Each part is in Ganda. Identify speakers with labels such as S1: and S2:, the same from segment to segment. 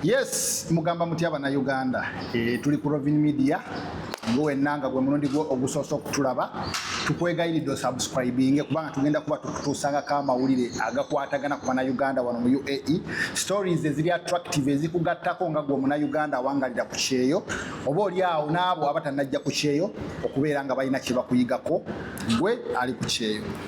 S1: Yes, mugamba mutya bana Uganda. E, tuli ku Rovin Media. Nguwe nanga gwe mulundi gwo ogusoso kutulaba. Tukwegayiridde osubscribinge kubanga tugenda kuba tukutuusanga ka mawulire agakwatagana ku bana Uganda wano mu UAE. Stories eziri attractive ezikugattako nga gwe omuna Uganda awangalira ku kyeyo oba oli awo n'abo abatanajja ku kyeyo okubeera nga balina kye bakuyigako gwe ali ku kyeyo.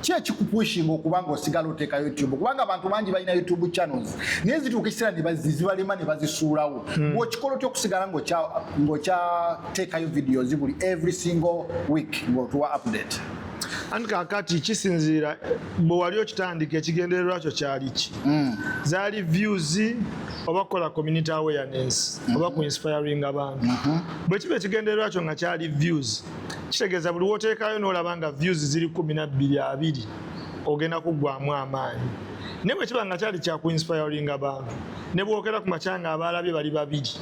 S1: ki ekikupushinga okuba nga osigala oteeka youtube kubanga abantu bangi balina youtube channels naye zituuka ekiseera nezibalema ne bazisuulawo hmm. ng'okikola otya okusigala ng'okyateekayo videos buli every single week ng'otuwa update anti kakati
S2: kisinziira bwe wali okitandika ekigendererwa kyo kyali ki hmm. zaali views oba kukola community awareness oba ku inspiring abantu mhm. bwe kiba ekigendererwa kyo nga kyali views kitegeeza buli woteekayo n'olaba nga views ziri kumi na bbiri abiri ogenda kuggwamu amaanyi naye bwe kiba nga kyali kya kuinspiringa abantu ne bwogera ku makya nga abaalabye bali babiri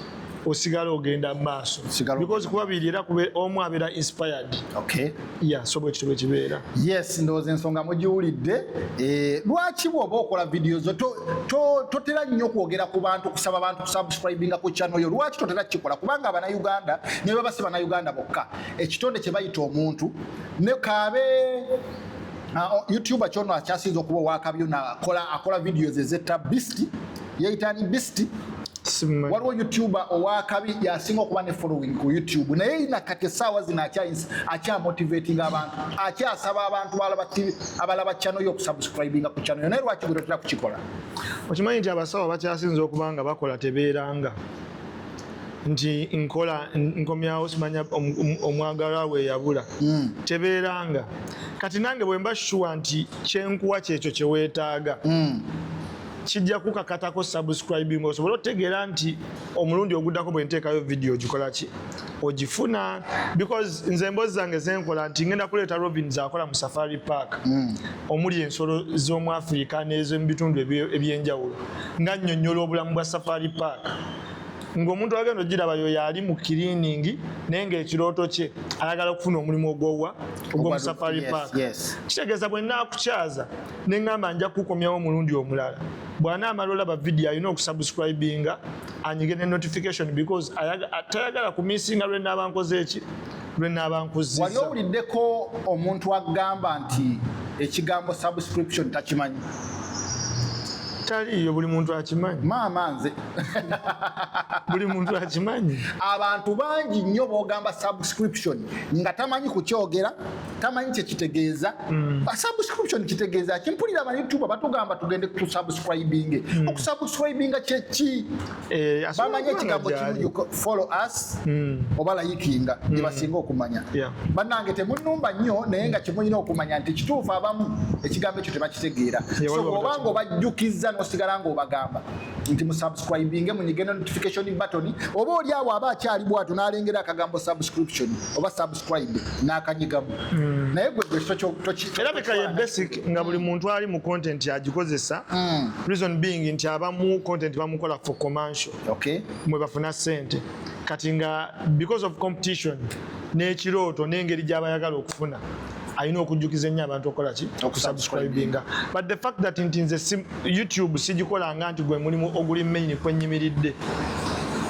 S2: osigala ogenda mu maaso because kuba biri era kube omu abeera inspired okay yeah so bwe kitwe kibeera yes ndowooza ensonga
S1: mugiwulidde eh, lwaki bw'oba okola vidiyo zo totera nnyo kwogera ku bantu kusaba bantu kusubscribinga ku channel yo lwaki totera kikola kubanga abana Uganda ne baba si bana Uganda bokka ekitonde kye bayita omuntu ne kaabe uh, YouTuber kyono akyasinze okuba owakabyo na kola akola videos ezetta beast yeyitani beast waliwo youtuber owakabi yasinga okuba ne following ku youtube naye ina kati esaawa zino akyamotivating abantu akyasaba abantu abalaba channel yo okusubscribinga ku channel yo naye lwaki gwe totera kukikola okimanyi nti
S2: abasawo bakyasinza okuba nga bakola tebeeranga nti nkola nkomyawo simanya omwagalwa we yabula hmm. tebeeranga kati nange bwemba shuwa nti kyenkuwa kyekyo kyeweetaaga hmm. kijja kukakatako subscribing osobole otegeera nti omulundi oguddako bwe nteekayo vidiyo ogikola ki ogifuna because nze embozi zange zenkola nti ngenda kuleeta robin zakola mu safari park mm. omuli ensolo z'omu afirika n'ezomu bitundu eby'enjawulo nga nnyonnyola obulamu bwa safari park ng'omuntu agenda ogiraba yo yaali mu kiriiningi naye ng'ekirooto kye ayagala okufuna omulimu ogwowa ogwomusafari park kitegeeza bwe naakukyaza ne ŋŋamba nja kukukomyawo omulundi omulala bw'anaamala olaba vidiyo alina okusubscribinga anyige ne notification because tayagala kumisinga lwe naaba nkoze eki lwe naaba nkuzizza wali owuliddeko
S1: omuntu agamba nti ekigambo subscription takimanyi taliiyo
S2: buli muntu akimanyi maama nze buli muntu akimanyi abantu bangi
S1: nnyo bogamba subscription nga tamanyi kukyogera tamanyi kyekitegeeza mm. ah, subscription kitegeeza kimpulira abayoutuba batugamba tugende kusubscribing mm. okusubscribinga kyeki Eh, bamanyi ekigambo kimu follow us hmm. oba layikinga hmm. gyebasinga okumanya bannange temunumba nnyo naye nga kimulina okumanya nti kituufu abamu ekigambo ekyo tebakitegeera oba nga obajjukizza nosigala nga obagamba nti musubscribinge munyige notification button oba oli awo aba akyali bwatu nalengera akagambo subscription oba subscribe n'akanyigamu mm. naye gwe gwe kirabika
S2: ye basic nga buli muntu ali mu content agikozesa mm. reason being nti abamu content bamukola for commercial okay. mwe bafuna sente kati nga because of competition n'ekirooto n'engeri gy'abayagala okufuna alina okujjukiza ennyo abantu okukola ki okusubscribinga but the fact that nti nze youtube sigikolanga nti gwe mulimu oguli mainyi kwenyimiridde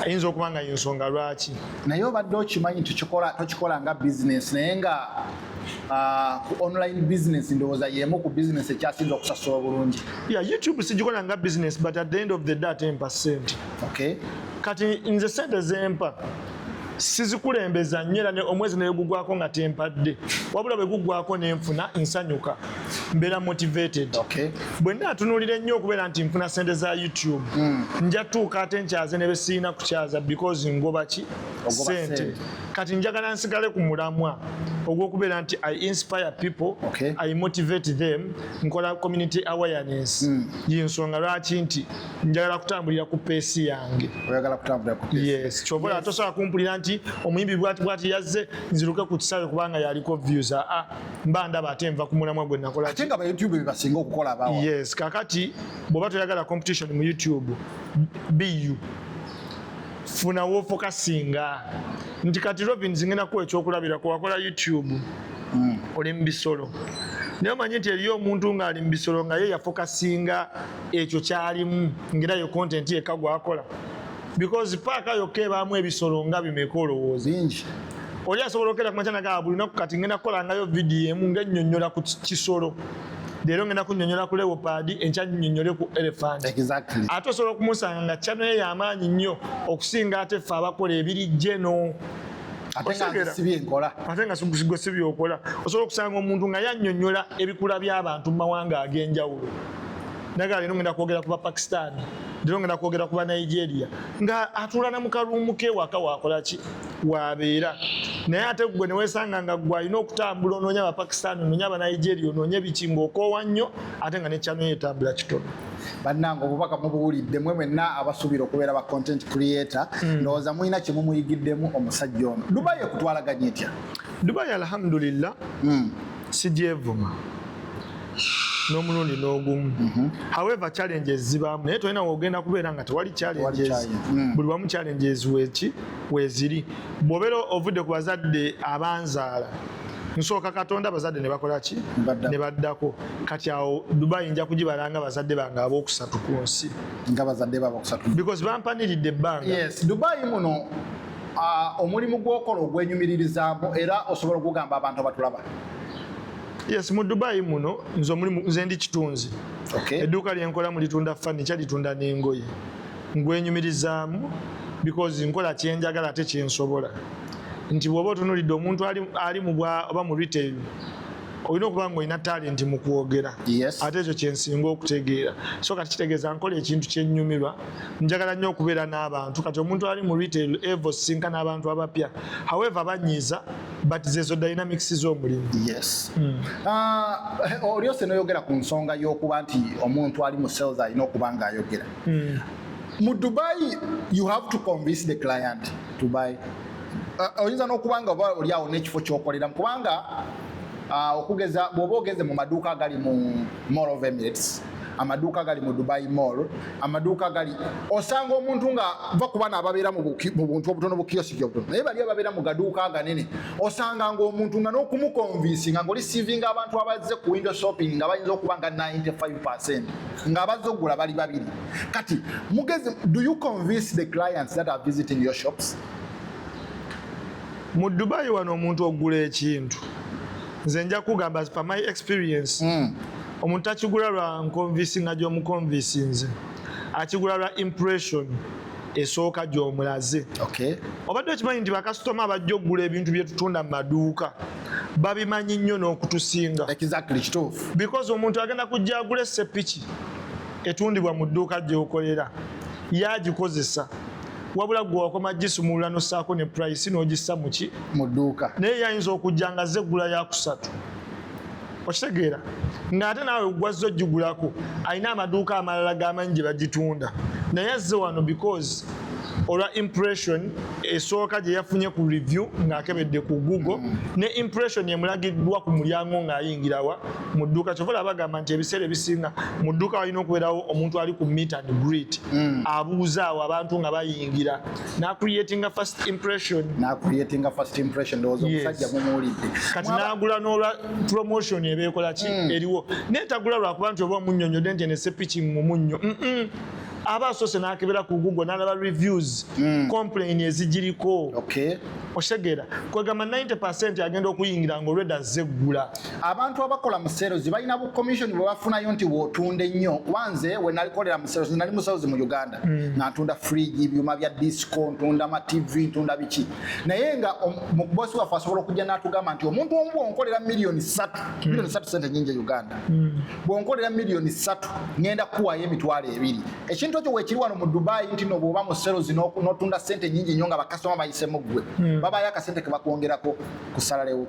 S2: ayinza okuba nga yensonga lwaki naye obadde
S1: okimanyi nti kikola tokikola nga bizinesi naye nga ah, ku online business ndowooza yemu ku business ekyasinza okusasula obulungi ya youtube sigikola
S2: nga business but at the end of the day atempa sente okay kati nze sente zempa sizikulembeza nnyo era omwezi negugwako nga tempadde wabula bwe gugwako nenfuna nsanyuka mbeera motivated okay. bwe naatunulira ennyo okubeera nti nfuna sente za youtube mm. nja tuuka ate nkyaze ne besiina kukyaza because ngoba ki sente kati njagala nsigale ku mulamwa ogwokubeera nti i inspire people okay. i motivate
S1: them
S2: nkola community awareness mm. yensonga lwaki nti njagala kutambulira ku peesi yange
S1: yes kyobola yes. tosobola
S2: kumpulira nti omuyimbi bwati bwati yazze nziruke ku kisaawe kubanga yaliko views aa ah, ah. mba ndaba ate nva ku mulamwa gwe nakola ate nga ba youtube bebasinga
S1: okukola abawa yes kakati
S2: bwoba toyagala competition mu youtube bu funa wofokasinga nti kati robin zingenda kuwa ekyokulabira kuwakola youtube mm. oli mu bisolo naye omanye nti eriyo omuntu ng'ali mu bisolo nga ye yafokasinga ekyo kyalimu ngaera yo kontenti yekka gwakola because paaka yokka ebaamu ebisolo nga bimeka olowooza bingi
S1: oli asobola okera
S2: kumakya nagaa buli naku kati ngenda kukolangayo vidiyo emu ngennyonnyola ku kisolo leero ngenda kunyonyola ku leopard enkya nyonyole ku elephant exactly. ate osobola
S1: okumusanga
S2: nga kyano ye yamaanyi nnyo okusinga ate ffe abakola ebiri jeno
S1: ate nga sigwe si
S2: byokola osobola okusanga omuntu nga yanyonyola ebikula by'abantu mu mawanga ag'enjawulo naga leero ngenda kwogera ku bapakistani ndiro ngenda kwogera ku banigeria nga atula na mukaluumu ke waka wakola ki wabeera naye ate gwe newesanga nga gwe alina okutambula onoonya abapakistan onoonya abanigeria onoonya biki ngaokoowa nnyo ate nga nekyano yetambula kitono bannange obubaka
S1: mubuwulidde mwe mwenna abasuubira okubeera ba content creator hmm. ndowooza mulina kimu muyigiddemu omusajja ono dubai ekutwalaganya etya dubai
S2: alhamdulillah hmm. sigyevuma n'omulundi n'ogumu mhm. however challenges zibaamu naye tolina wogenda kubeera nga tewali challenges mm. buli wamu challenges weki weziri bw'obeera ovudde ku bazadde abanzaala nsooka katonda abazadde ne bakola ki ne baddako kati awo dubai nja kugibalanga bazadde bange ab'okusatu ku nsi nga bazadde
S1: babokusatu because bampaniridde
S2: ebbanga yes dubai muno
S1: ah, omulimu gw'okola ogwenyumiririzaamu era osobola okugamba abantu abatulaba
S2: Yes, mu Dubai muno nzo muli nze ndi kitunzi. Okay. Eduka
S1: lyenkola mu litunda
S2: furniture litunda n'engoye. Ngwenyumirizaamu because nkola kyenjagala ate kyensobola. Nti bwoba otunulidde omuntu ali, ali mu bwa oba mu retail olina okuba nga olina talenti mu kwogera ate ekyo
S1: kyensinga
S2: okutegeera so kati kitegeeza nkola ekintu kyenyumirwa njagala nnyo okubeera n'abantu kati omuntu ali mu retail evo sinka n'abantu abapya however banyiiza but zezo dynamics z'omulimu yes
S1: hmm. ah, olyose noyogera ku nsonga y'okuba nti omuntu ali mu sales alina okuba nga ayogera hmm. mu dubai you have to convince the client to buy ah, oyinza n'okuba nga oba olyawo n'ekifo kyokoleramu kubanga ah, okugeza bw'oba ogeze mu maduuka agali mu Mall of Emirates amaduuka gali mu Dubai Mall amaduuka gali osanga omuntu nga va ku bana ababeera mu buntu obutono bu kiyosiki obutono naye bali ababeera mu gaduuka aganene osanga nga omuntu nga n'okumukonvinsi nga ngoli sivinga abantu abazze ku window shopping nga bayinza okuba nga 95 nga abazze okugula bali babiri kati mugezi do you convince the clients that are visiting your shops
S2: mu Dubai wano omuntu ogula ekintu nze nja kugamba as per my experience mm. omuntu takigula lwa nkonvisinga gyomukonvisinze akigula lwa impression esooka gyomulaze okay. obadde
S1: okimanyi nti
S2: bakasitoma abajja okugula ebintu byetutunda mu maduuka babimanyi nnyo n'okutusinga exactly,
S1: because omuntu agenda
S2: kujja agula esepiki etundibwa mu dduuka gyokolera yagikozesa wabula gwe wakoma gisumulula nosaako ne price nogissa muki mu dduuka naye
S1: yayinza okujja
S2: nga ze eggula yakusatu okitegeera ng'ate naawe gwazza ogigulako alina amaduuka amalala gamanyi gye bagitunda naye azze wano because olwa impression esooka gye yafunye ku review ng'akebedde ku google mm. ne impression emulagiddwa ku mulyango ng'ayingirawa mu dduuka kyova laba bagamba nti ebiseera ebisinga mu dduuka walina okubeerawo omuntu ali ku meet and greet mm. abuuzaawo abantu nga bayingira nacreatinga first impression nacreatinga first impression
S1: ndowooza omusajja mumuwulidde kati nagula
S2: n'olwa promotion ebeekola ki mm. eriwo naye tagula lwakuba nti oba omunyonyode nti enesepiki mu munnyo aba asoose nakebera ku google nalaba reviews mm. complain ezigiriko okay.
S1: oshegera
S2: kwegamba 90 agenda okuyingira ngaolweda zeggula abantu abakola
S1: mu serozi balina bu commission bwe bafunayo nti wotunda ennyo kuba nze we nalikolera mu serozi nali muserozi mu uganda mm. nga ntunda fridge ebyuma bya disco ntunda ma tv ntunda biki naye nga mubosi waffe asobola okujja n'atugamba nti omuntu omu bwonkolera miliyoni satu mm. miliyoni satu sente nyingi e uganda mm. bwonkolera miliyoni satu ngenda kuwayo emitwalo ebiri ekintu ekyo wekiri wano mu dubai nti no bwoba mu serozi notunda sente nyingi nnyo nga bakasitoma bayisemu ggwe babayo akasente kebakwongerako kusalarewo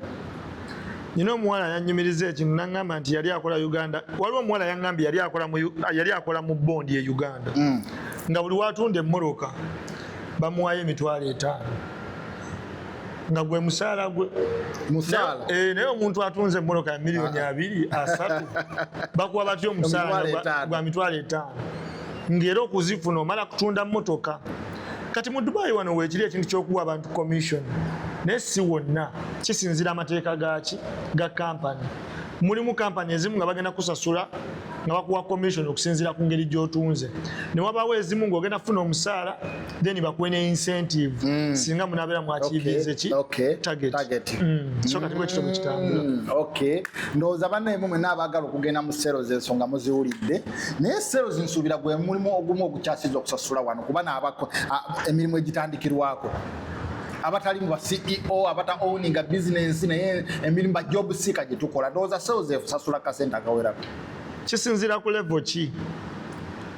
S2: nina omuwala yanyumiriza ekintu nangamba nti yali akola uganda waliwo omuwala yangambye yali akola mu bondi e uganda mm. nga buli watunda emmoroka bamuwayo emitwalo etaano nga gwe musaala gwe eh, naye omuntu atunze emmoroka ya miliyoni ah. abiri asatu bakuwa batya omusaala gwa mitwalo etaano ng'era okuzifuna omala kutunda mmotoka kati mu dubayi wano wekiri ekintu kyokuwa abantu commission naye si wonna kisinzira amateeka gaki ga kampani mulimu kampani ezimu nga bagenda kusasula nga bakuwa commission okusinzira ku ngeri gyotunze newabawo ezimu ngaogenda kufuna omusaala then bakuwe ne incentive mm. singa munabeera mwakiivinze ki target mm. so kati bwekito mukitambula mm. ndowooza
S1: banaemu mwena abagala okugenda mu sero zensonga muziwulidde naye sales nsuubira gwe mulimu ogumu ogukyasiza okusasula wano kuba naabako emirimu egitandikirwako abatali mu ceo abata owninga bizinensi naye emirimu ba job seeker gye tukola ndowooza sales efusasula kasente akawerako kisinziira
S2: ku levo ki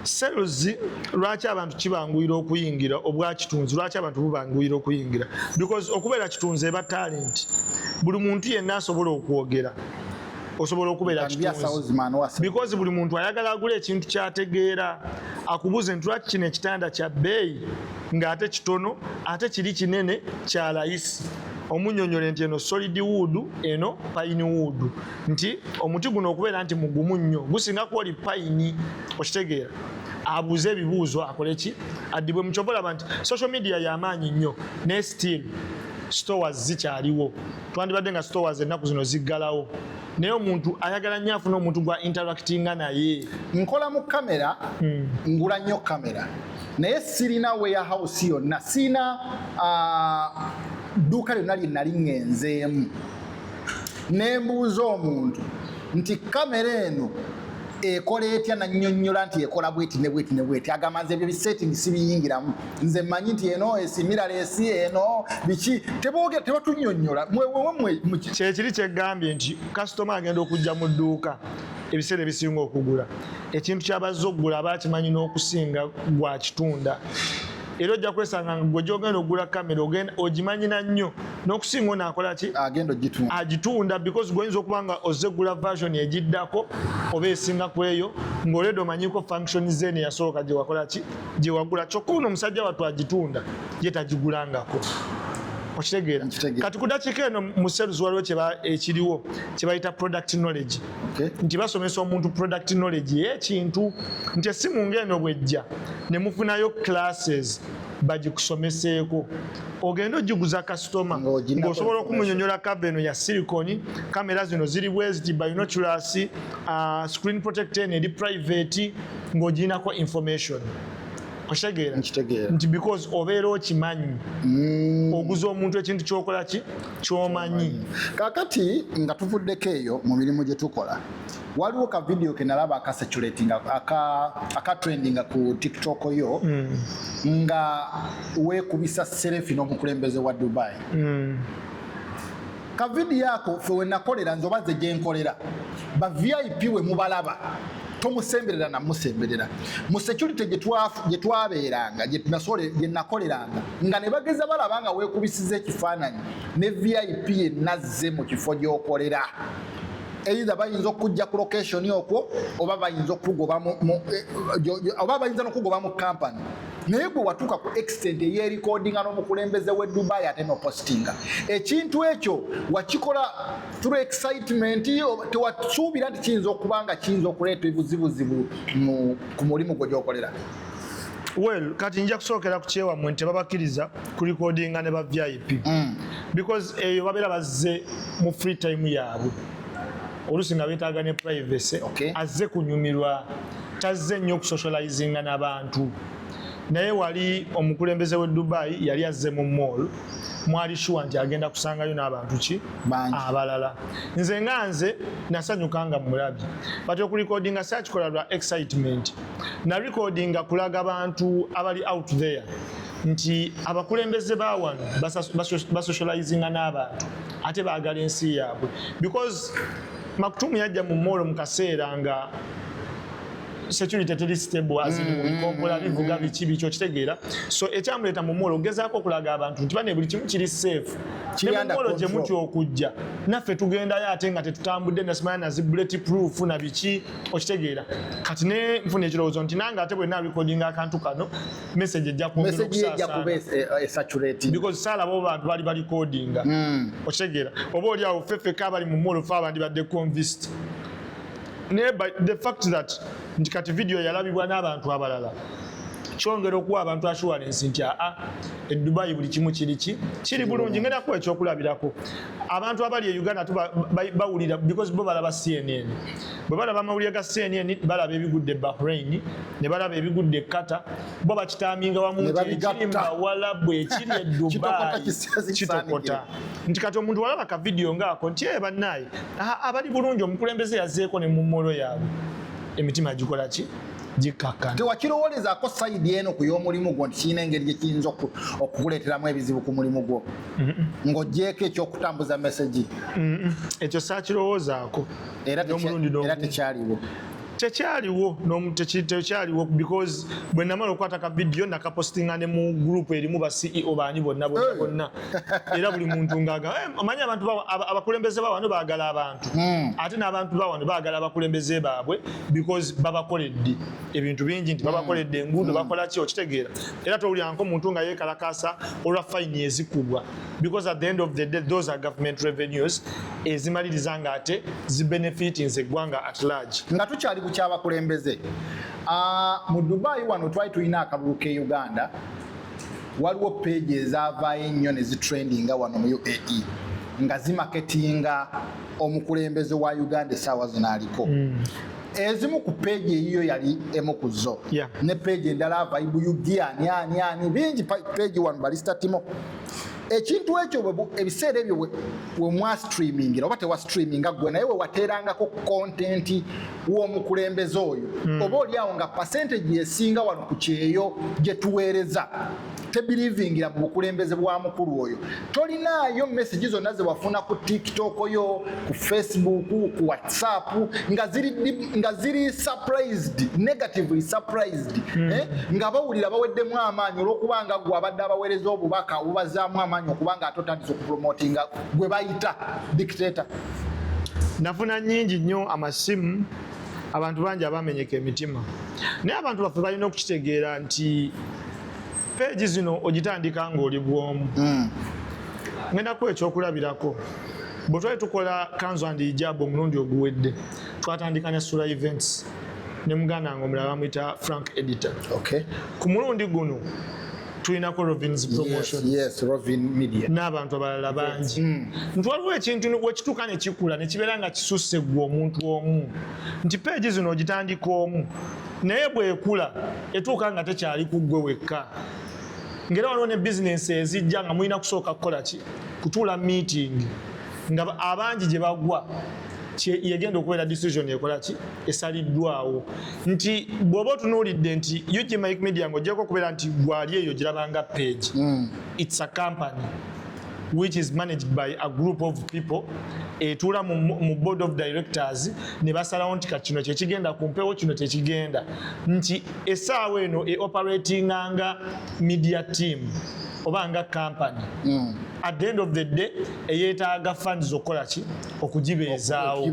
S2: sales lwaki abantu kibanguyira okuyingira obwakitunzi lwaki abantu bubanguyira okuyingira because okubeera kitunzi eba talenti buli muntu yenna asobola okwogera osobola okubeera kitunzi because buli muntu ayagala agula ekintu kyategeera akubuze nti lwaki kino ekitanda kya bbeeyi ng'ate kitono ate kiri kinene kya layisi omunyonyole nti eno solid wood eno pine wood nti omuti guno okubeera nti mugumu nnyo gusinga kwoli pine okitegeera abuuze ebibuuzo akole ki addibwe mukyovolaba nti social media yamaanyi nnyo ne still stores zikyaliwo twandibadde nga stores ennaku zino ziggalawo naye omuntu ayagala nnyo afuna omuntu gwa interactinga naye nkola mu kamera hmm. ngula nnyo kamera naye sirina warehouse yonna sirina ah, dduuka lyonna lye nali ŋŋenzeemu ne mbuuza omuntu nti kamera eno ekola etya nanyonyola nti ekola bweti ne bweti ne bweti agamba nze ebyo bisetting sibiyingiramu nze manyi nti eno esimira lesi eno biki tebogera tebatunyonyola kyekiri kyegambye nti kasitoma agenda okujja mu dduuka ebiseera ebisinga okugula ekintu kyabazza okugula aba akimanyi n'okusinga gwakitunda era ojja kwesanga nga gwe gyogenda okugula kamera ogimanyina nnyo n'okusinga ono akola ki agitunda because gwoyinza okuba nga ozze gula version egiddako oba esinga ku eyo ng'olwedde omanyiko function zeni yasooka gye wakola ki gyewagula kyokka ono omusajja watu agitunda ye tagigulangako okitegeera kati ku dakiika eno mu sales waliwo ekiriwo kyebayita product knowledge nti basomesa omuntu product knowledge yekintu nti esimu ngaeno bwejja nemufunayo classes bagikusomeseeko ogenda ogiguza kasitoma ngaosobola okumunyonyola kava eno ya siliconi kamera zino ziri bweziti binoculasi uh, screen protect en eri private ng'ogirinako information okitegeera nti because obeera okimanyi mm. oguza omuntu ekintu kyokola ki kyomanyi kakati nga tuvuddeko eyo mu mirimu gye tukola waliwo ka vidiyo ke nalaba akaseculatinga akatrendinga ku tiktok yo mm. nga weekubisa serefi n'omukulembeze wa dubai mm. ka vidiyo ako fe wenakolera nze oba ze gyenkolera ba vip we mubalaba tomusemberera namusemberera mu security gyetwabeeranga gyenakoleranga nga ne bageza balaba nga wekubisiza ekifaananyi ne vip enazze mu kifo gyokolera either bayinza okujja ku location okwo oba bayinza okugoba eh, oba bayinza nokugoba mu company naye gwe watuuka ku extent eyerikodinga n'omukulembeze we dubai ate nopostinga ekintu ekyo wakikola through excitement tewasuubira nti kiyinza okuba nga kiyinza okuleeta ebuzibuzibu ku mulimu gwe gyokolera well kati nja kusookera ku kyewammwe nti tebabakiriza kurikodinga ne ba vip mm. because eyo babeera bazze mu free time yaabwe olusi nga betaaga ne privacy okay. azze kunyumirwa tazze nnyo okusocializinga n'abantu naye wali omukulembeze w'e dubai yali azze mu mall mwali shuwa nti agenda kusangayo n'abantu ki abalala nze nga nze nasanyuka nga mulabi but okulikodinga sakikola lwa excitement narikodinga kulaga bantu abali out there nti abakulembeze bawano basocializinga n'abantu ate baagala ensi yaabwe because makutumu yajja mu moolo mu kaseera nga security teri stable as in mm-hmm. bikompola bivuga biki biki okitegeera so ekyamuleeta mu moolo ogezaako okulaga abantu nti bane buli kimu kiri safe nemumolo gye muti okujja naffe tugendayo ate nga tetutambudde nasimaya nazi bullet proof na biki okitegeera kati ne nfuna ekirowoozo nti nange ate bwe narekodinga akantu kano message ejja kwongera okusasaana
S1: eh, because sala bo
S2: bantu bali bali codinga mm. oshegera obo oli awo fefe kabali mu molo fa abandi badde convinced ne by the fact that nti kati video yalabibwa n'abantu abalala kyongera okuwa abantu assurance nti aa ah, e dubai buli kimu kiri ki kiri bulungi ngenda kuwa ekyokulabirako abantu abali e uganda bawulira because bo balaba cnn bwe balaba amawulire ga cnn balaba ebigudde bahrain ne balaba ebigudde ekata bo bakitaminga wamu ntikimbawalabu ekiri edubaikitokota nti kati omuntu walaba ka vidiyo ngaako nti e bannaaye abali bulungi omukulembeze yazeeko ne mumolo yaabwe emitima gikola ki gikakkana tewakirowolezaako
S1: sayidi eno ku y'omulimu gwo nti kirina engeri gye kiyinza okukuleeteramu ebizibu ku mulimu gwo ng'ogyeko ekyokutambuza mesegi ekyo
S2: saakirowoozaako era
S1: tekyaliwo
S2: tekyaliwo tekyaliwo because bwe namala okukwata ka vidiyo nakapostinga ne mu gurupu erimu ba ceo baani bonna bonna bonna era buli muntu ngaaga eh, manyi abantu abakulembeze bawano baagala abantu hmm. ate n'abantu bawano baagala abakulembeze baabwe because babakoledde ebintu bingi nti babakoledde hmm. enguudo hmm. bakola ki okitegeera era towulyanko muntu nga yeekalakaasa olwa fayini ezikubwa because at the end of the day those are government revenues ezimaliriza nga ate zibenefitins eggwanga at large nga tukyali
S1: kukyabakulembeze ah, mu dubai wano twali tulina akalulu ke uganda waliwo peegi ezavaayo ennyo ne zitrendinga wano mu uae nga zimaketinga omukulembeze wa uganda esaawa zino aliko mm. ezimu ku peegi eyiyo yali emu ku zo ne peegi endala vaibu ugiani ani ani bingi peegi wano balistatimo ekintu ekyo ebiseera ebyo wemwa streamingira oba tewa streaminga gwe naye wewateerangako kontenti w'omukulembeze oyo hmm. oba olyawo nga pasenteji esinga wano ku kyeyo gye tuweereza tebirivingira mu bukulembeze bwa mukulu oyo tolinaayo mesegi zonna zewafuna ku tiktok yo ku facebook ku whatsapp nga ziri nga ziri surprised negatively surprised mm. eh? nga bawulira baweddemu amaanyi olwokuba nga gwe abadde abaweereza obubaka obubazaamu amaanyi okuba nga ate otandisa okupromotinga gwe bayita dictator
S2: nafuna nyingi nnyo amasimu abantu bangi abamenyeka emitima naye abantu baffe balina okukitegeera nti peegi zino ogitandika ng'oli bwomu mm. ngenda kuwa ekyokulabirako bwe twali tukola kanzu and ijabu omulundi oguwedde twatandika ne sula events ne muganda nga omulala bamuyita frank editor okay. ku mulundi guno tulinako rovins promotion yes, yes, media
S1: n'abantu abalala bangi
S2: mm. nti waliwo ekintu wekituuka ne kikula ne kibeera nga kisusse gwe omuntu omu nti peegi zino ogitandika omu naye bwekula etuuka nga tekyali ku gwe wekka ngera waliwo ne bizinensi ezijja nga mulina kusooka kukola ki kutuula miitingi nga abangi gye bagwa yegenda okubeera decision ekola ki esaliddwawo nti bw'oba otunuulidde nti ug mike media nga ojjako okubeera nti gwali eyo girabanga page mm. its a company which is managed by a group of people etuula mu board of directors ne basalawo nti kati kino kyekigenda ku mpewo kino tekigenda nti esaawa eno e operatinga nga media team oba nga company mm. at the end of the day eyetaaga fund zokukola ki okugibeezaawo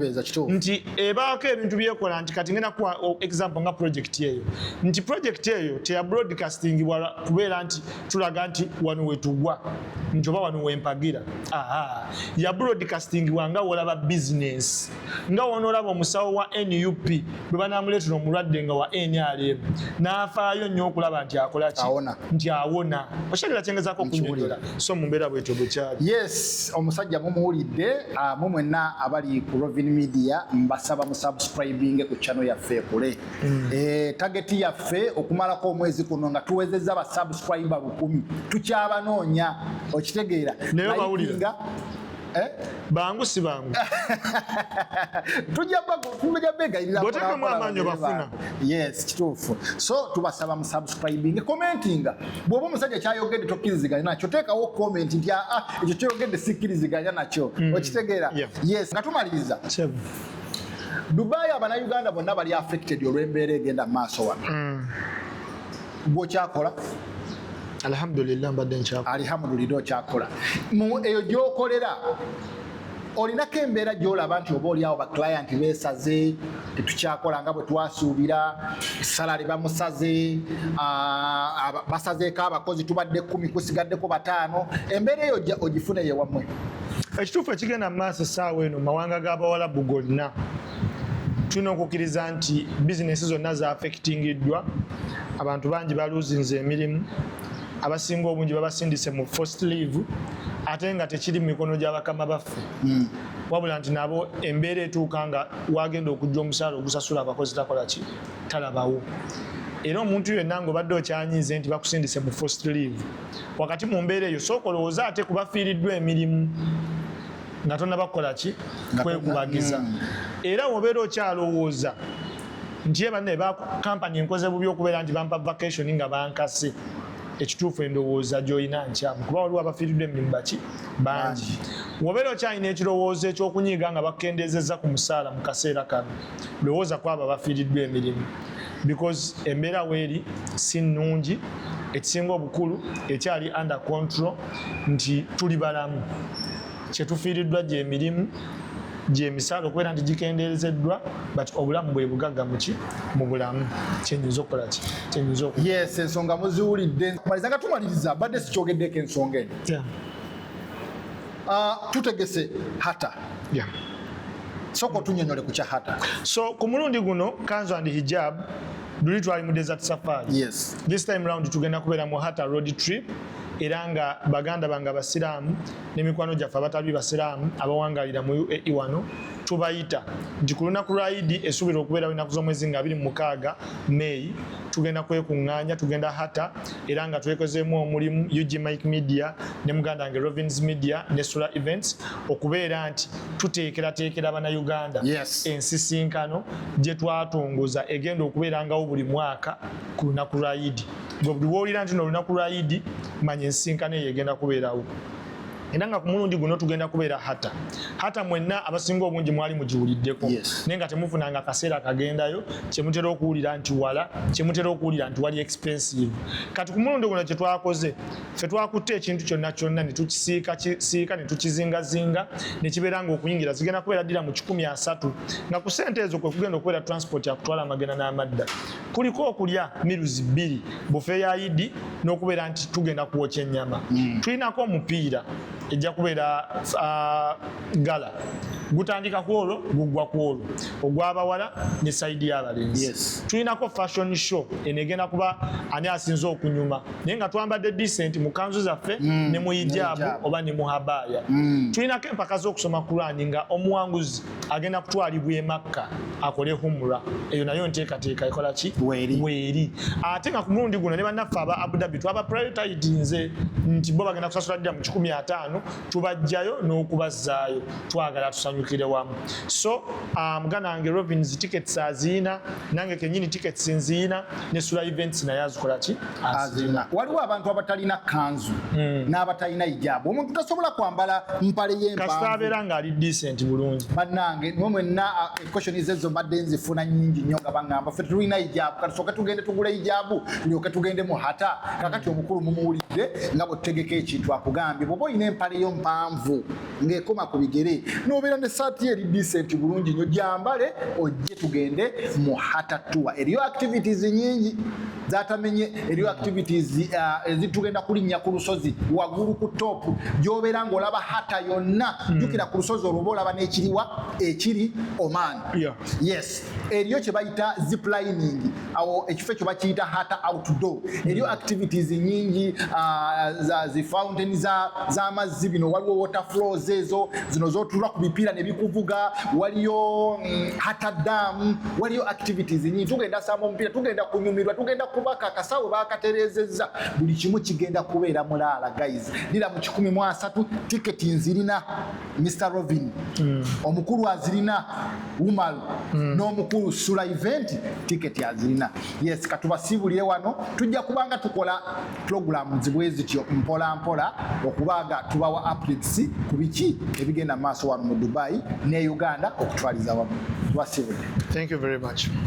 S2: nti ebaako ebintu byekola nti kati ngenda kuwa example nga project eyo nti project eyo teya broadcasting kubeera nti tulaga nti wano wetugwa nti oba wano wempagira ya broadcasting wanga wolaba bizinesi nga wonoolaba omusawo wa nup bwe banamuleetera omulwadde nga wa nrm n'afaayo nnyo okulaba nti akolaki nti awona okyalira kyengezako okunyonyola so mu mbeera bwetyo bwekyali yes omusajja
S1: mumuwulidde ah, mu mwenna abali ku rovin media mbasaba musubscribinge ku chano yaffe ekule Mm. Eh, tageti yaffe okumalako omwezi kuno nga tuwezezza ba subscriber lukumi tukyabanoonya okitegeera naye bawulira
S2: Eh? bangu si bangu
S1: tujja begayiriraotekamu amaanyi obafuna
S2: yes kituufu
S1: so tubasaba musubscribing commentinga bwoba omusajja kyayogedde tokkiriziganya nakyo teekawo comment nti aa ah, ah, ekyo kyoyogedde sikkiriziganya nakyo hmm. okitegeera yes nga tumaliriza Dubai abanayuganda bonna bali affected olw'embeera egenda mu maaso wano mm. gwokyakola alhamdulillah
S2: mbadde nkyakola
S1: alhamdulillah okyakola eyo gyokolera olinako embeera gyolaba nti oba oliawo baclient besaze tetukyakola nga bwe twasuubira salari bamusaze basazeeko abakozi tubadde kumi kusigaddeko bataano embeera eyo ogifuneyo ewammwe ekituufu ekigenda
S2: mu maaso essaawa eno mu mawanga g'abawalabu gonna tulina okukkiriza nti bizinesi zonna zaafekitingiddwa abantu bangi baluuzinze emirimu abasinga obungi babasindise mu first leave ate nga tekiri mu mikono gya bakama baffe hmm. wabula nti nabo embeera etuuka nga wagenda okujja omusaala ogusasula abakozi takolaki talabawo era omuntu yenna ngaobadde okyanyiize nti bakusindise mu first leave wakati mu mbeera eyo sooka olowooze ate ku bafiiriddwa emirimu nga tonabakukola ki kwekubagiza mm. era wobeera okyalowooza nti ye banne bakampani enkoze bubi okubeera nti bampa vacation nga bankase ekituufu endowooza gyolina nkyamu kuba waliwo abafiiriddwa emirimu baki bangi wobeera okyalina ekirowoozo ekyokunyiiga nga bakendeezezza ku musaala mu kaseera kano lowooza kwabo abafiiriddwa emirimu because embeera weeri si nnungi ekisinga obukulu ekyali under control nti tuli balamu kyetufiiriddwa gyemirimu gyemisaala okubeera nti gikendeerezeddwa but obulamu bwe bugagga muki mu bulamu kyenyinza okukola ki kyenyinza oku yes ensonga muziwulidde
S1: maliza nga tumaliriza badde sikyogeddeko ensonga eno Uh, tutegese hata yeah. Soko otunyonyole ku kya hata. So ku mulundi guno
S2: kanzu and hijab luli twali mu desert safari. Yes. This time
S1: round tugenda
S2: kubeera mu hata road trip era nga baganda bange abasiraamu ne mikwano gyaffe abatali basiraamu abawangalira mu UAE wano tubayita nti ku lunaku lwa idi esuubirwa okubeerawo ennaku z'omwezi nga abiri mu mukaaga May tugenda kwekuŋŋaanya tugenda hata era nga twekozeemu omulimu ug mike media ne muganda wange rovins media ne sula events okubeera nti tuteekerateekera banauganda yes. ensisinkano gye twatongoza egenda okubeerangawo buli mwaka ku lunaku lwa idi gwe buli woolira nti no olunaku lwa idi manya ensisinkano eyo egenda kubeerawo era nga ku mulundi guno tugenda kubeera hata hata mwenna abasinga obungi mwali mugiwuliddeko naye nga temufunanga akaseera kagendayo kyemutera okuwulira nti wala kyemutera okuwulira nti wali expensive kati ku mulundi guno kyetwakoze fe twakutte ekintu kyonna kyonna netukisiika kisiika netukizingazinga nekibeera nga okuyingira zigenda kubeera ddira mu kikumi asatu nga ku sente ezo kwekugenda okubeera transport yakutwala amagenda n'amadda kuliko okulya miruzi bbiri bufe ya idi n'okubeera nti tugenda kuwokya ennyama mm. tulinako omupiira ejja kubeera uh, gala gutandika kwolwo gugwa kwolwo ogwabawala ne saidi y'abalenzi yes. tulinako fashion show eno egenda kuba ani asinze okunyuma naye nga twambadde decent mu kanzu zaffe mm. ne mu hijabu oba ne mu habaaya mm. tulinako empaka z'okusoma kurani nga omuwanguzi agenda kutwalibwa e makka akole humra eyo nayo nteekateeka ekola ki weeri ate nga ku mulundi guno ne bannaffe aba abudabi twaba prioritidinze nti bo bagenda kusasula ddira mu kikumi ataano tubajjayo n'okubazzaayo twagala tusanyukire wamu so muganda wange robins tickets aziina nange kenyini tickets nziina ne sula events naye azikola ki azina waliwo abantu abatalina
S1: kanzu hmm. n'abatalina hijabu omuntu tasobola kwambala mpale yempaabeera ngaali
S2: decent bulungi bannange nwe mwenna
S1: equestion zezo mbadde nzifuna nyingi nnyo nga baŋamba fe tetulina hijabu katusooke tugende tugula hijabu tulyoke tugende mu hata kakati omukulu mumuwulidde nga bwetutegeka ekintu akugambye bwoba olina empale yo mpanvu ng'ekoma ku bigere n'obeera ne saati eri disenti bulungi nnyo gyambale ojje tugende mu hatatuwa eriyo activities nyingi zatamenye eriyo activities uh, ezitugenda uh, kulinnya ku lusozi waggulu ku topu gy'obeera ng'olaba hata yonna hmm. jjukira ku lusozi olwoba olaba n'ekiriwa ekiri oman yes eriyo kye bayita ziplining awo ekifo ekyo bakiyita hata outdoor eriyo activities nyingi uh, zi fountain z'amazzi bino waliwo water flows ezo zino zotulwa ku bipiira ne bikuvuga waliyo um, mm, hata dam waliyo activities nyingi tugenda samba omupiira tugenda kunyumirwa tugenda kubaka akasawo bakaterezezza buli kimu kigenda kubeera mulaala guys lira mu kikumi mu asatu tiketi nzirina Mr Robin mm. omukulu azirina Umar mm. n'omukulu Sula event ticket azirina yes katubasiibulire wano tujja kubanga tukola program zibwe zityo mpola mpola okubanga tubawa updates ku biki ebigenda maaso wano mu Dubai ne Uganda okutwaliza wamu tubasiibulire thank you very
S2: much